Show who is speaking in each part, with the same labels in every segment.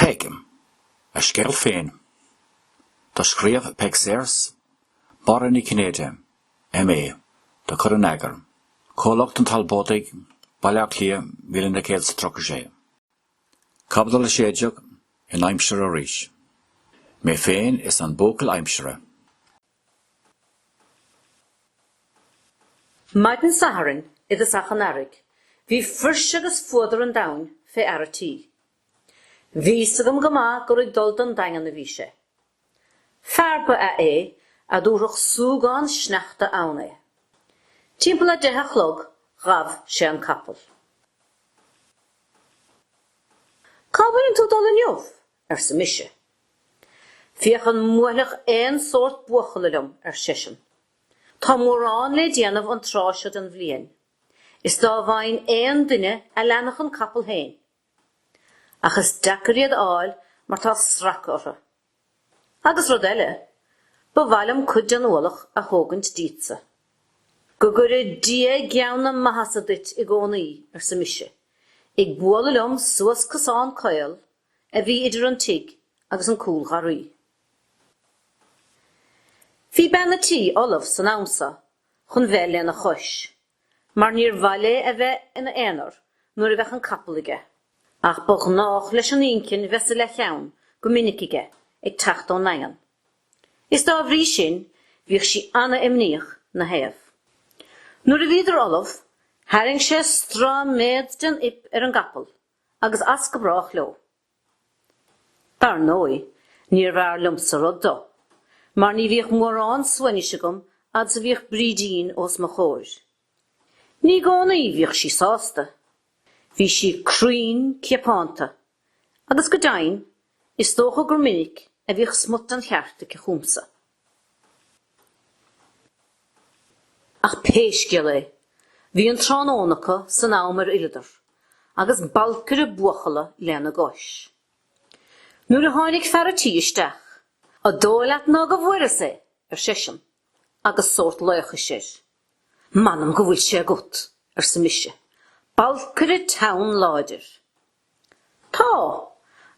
Speaker 1: Peig, a scéal féin. Do scríobh Peig Sayers, Máire Ní Chinnéide, M.A. do chur in eagar, Comhlucht an Talbóidigh, Baile Átha Cliath 1936, Caibidil 16, in aimsir arís, Mé féin is an Buachaill Aimsire.
Speaker 2: Maidin Sathairn i dtosach an Earraigh bhí fuirse agus fuadar an domhain fé fhear a' tí. Bhí's agam go maith gur ag dul don Daingean a bhí sé. Fear ba ea é a dtabharfadh súgán sneachta ann é. Timpeall a' deich a' chlog ghabh sé an capall. Cá bhfuileann tú 'dul inniu? arsa mise. Féachaint an mbuailfeadh aon sórt buachalla liom, ar seisean. Tá mórán le déanamh an tráth seo den bhliain, is dá bhfaighinn aon duine a leanfadh an capall féin. Ach is deacair iad a fháil mar tá sracadh orthu. Agus rud eile, ba mhaith liom cuid den ualach a thógaint díotsa. Go gcuire Dia gean na maitheasa duit i gcónaí, arsa mise, ag bualadh liom suas cosán caol a bhí idir an tigh agus an cúlgharraí. Bhí bean a' tí ullamh san am so chun bheith lena chois, mar níor mhaith léi é bheith ina aonar nuair a bheadh an capall aige, ach ba ghnách leis an inchinn bheith sa leathcheann go minic aige ag teacht ón nDaingean, is dá bhrí sin bhíodh sí ana-imníoch 'na thaobh. Nuair a bhíodar ullamh, tharraing sé stráiméad den fhuip ar an gcapall agus as go brách leo. Dar ndóigh, níorbh fhearr liomsa rud do, mar ní bhíodh mórán suaimhnis agam fhad 's a bhíodh Brídín os mo chomhair. Ní i gcónaí bhíodh sí sásta. Bhí sí cruinn ceapánta, agus go deimhin, is dócha gur minic a bhíodh smut den cheart aici chugamsa. Ach pé scéal é, bhí an tráthnóna acu san am ar fhilleadar, agus balcaire buachalla lena gcois. Nuair a tháinig fear a' tí isteach, A' dóigh leat ná go bhfuaireas é? ar seisean, agus sórt laochais air. M'anam go bhfuil sé agat! arsa mise, balcaire teann láidir. Tá,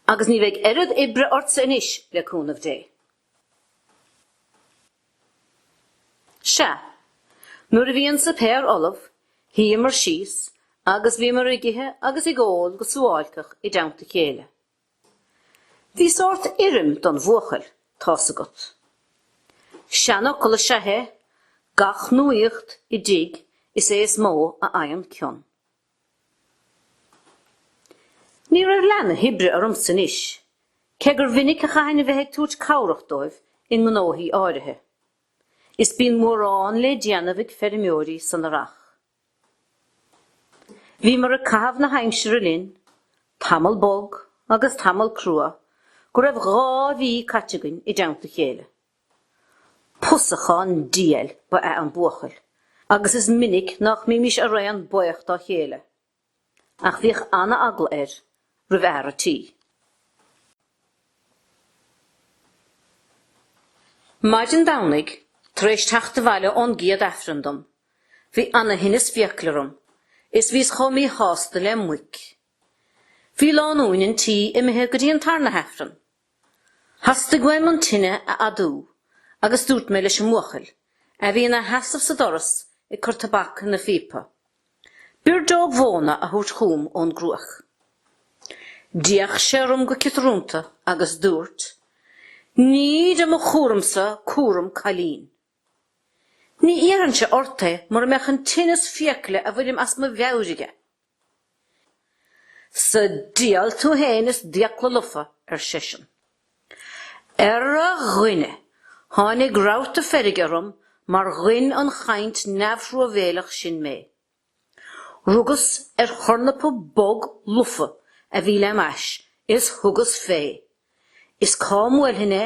Speaker 2: agus ní bheidh oiread oibre ortsa anois, le cúnamh Dé. Sea, nuair a bhí an suipéar ullamh, shuíomar síos agus bhíomar ag ithe agus ag ól go suáilceach i dteannta a chéile. Bhí sórt urraim don bhuachaill, tá's agat. Seanfhocal is ea é, gach nuaíocht i dtigh is é is mó a fhaigheann cion. Ní raibh leath na hoibre ormsa anois, cé gur mhinic a chaithfinn a bheith ag tabhairt cabhrach dóibh i ngnóthaí áirithe. Is bíonn mórán le déanamh ag feirmeoirí san Earrach. Bhíomar ag caitheamh na haimsire linn, tamall bog agus tamall crua go raibh dhá mhí caite againn i dteannta chéile. Pusachán diail ba ea an buachaill agus is minic nach mbímís araon baoch dá chéile. Ach bhíodh ana-eagla air roimh fhear a' tí. Maidin Domhnaigh, tar éis teacht abhaile ón gcéad Aifreann dom, bhí ana-thinneas fiacal orm is bhíos chomh míshásta le muic. Bhí lánúin an tí imithe go dtí an tarna hAifreann Theastaigh uaim an tine a fhadú agus dúirt mé leis an mbuachaill a bhí ina sheasamh sa doras ag cur tobac ina phíopa, birdeog mhóna a thabhairt chugam ón gcruaich. D'fhéach sé orm go ciotarúnta agus dúirt, Ní de mo chúramsa cúram cailín. Ní iarrfainnse ort é mura mbeadh an tinneas fiacaile a bhfuilim as mo mheabhair aige. Sa diabhal tú fhéin is d'fhiacla lofa, ar seisean. Ara, a dhuine, tháinig rabharta feirge orm mar ghoin an chaint neamhthruamhéileach sin mé. Rugas ar thornapa bog lofa a bhí lem ais is thugas fé, is cá mbuailfinn é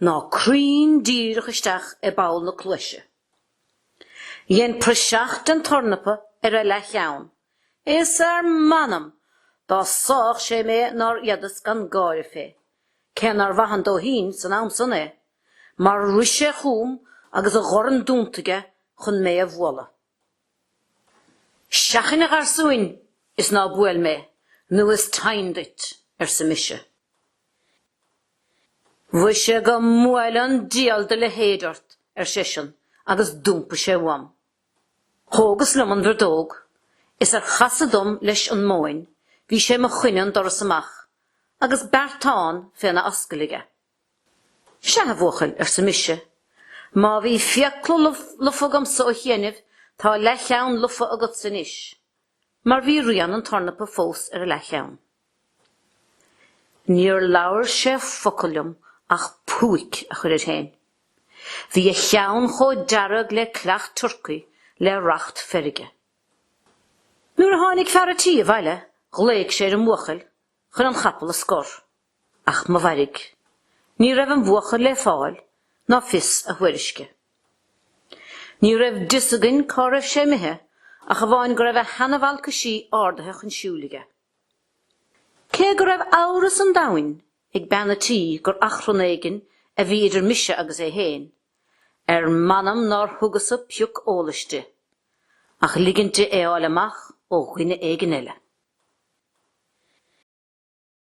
Speaker 2: ná cruinn díreach isteach i bpoll na cluaise. Dhein praiseach den tornapa ar a leathcheann, is ar m'anam dá sáfadh sé mé nár fhéadas gan gáire fé, cé nár mhaith an dóithín san am san é, mar rith sé chugam agus a dhorn dúnta aige chun mé a bhualadh. Seachain, a gharsúin, is ná buail mé, nó is teinn duit, arsa mise. Mhuise go mbuaile an dial do leithéid ort, ar seisean, agus d'iompaigh sé uaim. Thógas liom an bhirdeog, is ar chasadh dom leis an móin bhí sé 'mo choinne an doras amach agus beartán féna ascaill aige. Sea, a bhuachaill, arsa mise, má bhí fiacla lofa agamsa ó chiainibh, tá leathcheann lofa agatsa anois. mar bhí rian an tornapa fós ar a leathcheann. Níor labhair sé focal liom ach púic a chur air féin. Bhí a cheann chomh dearg le coileach turcaí le racht feirge. Nuair a tháinig fear a' tí abhaile ghlaoigh sé ar an bhuachaill chun an chapall a scor. Ach mo mhairg. Ní raibh an buachaill le fáil ná fios a thuairisce. Ní raibh d'fhios againn cá raibh sé imithe ach amháin go raibh a sheana-bhalcaisí ardaithe chun siúil aige. Cé go raibh amhras an domhain ag bean a' tí gur achrann éigin a bhí idir mise agus é fhéin, ar m'anam nár thugas-sa pioc eolais di, ach ligint di é fháil amach ó dhuine éigin eile.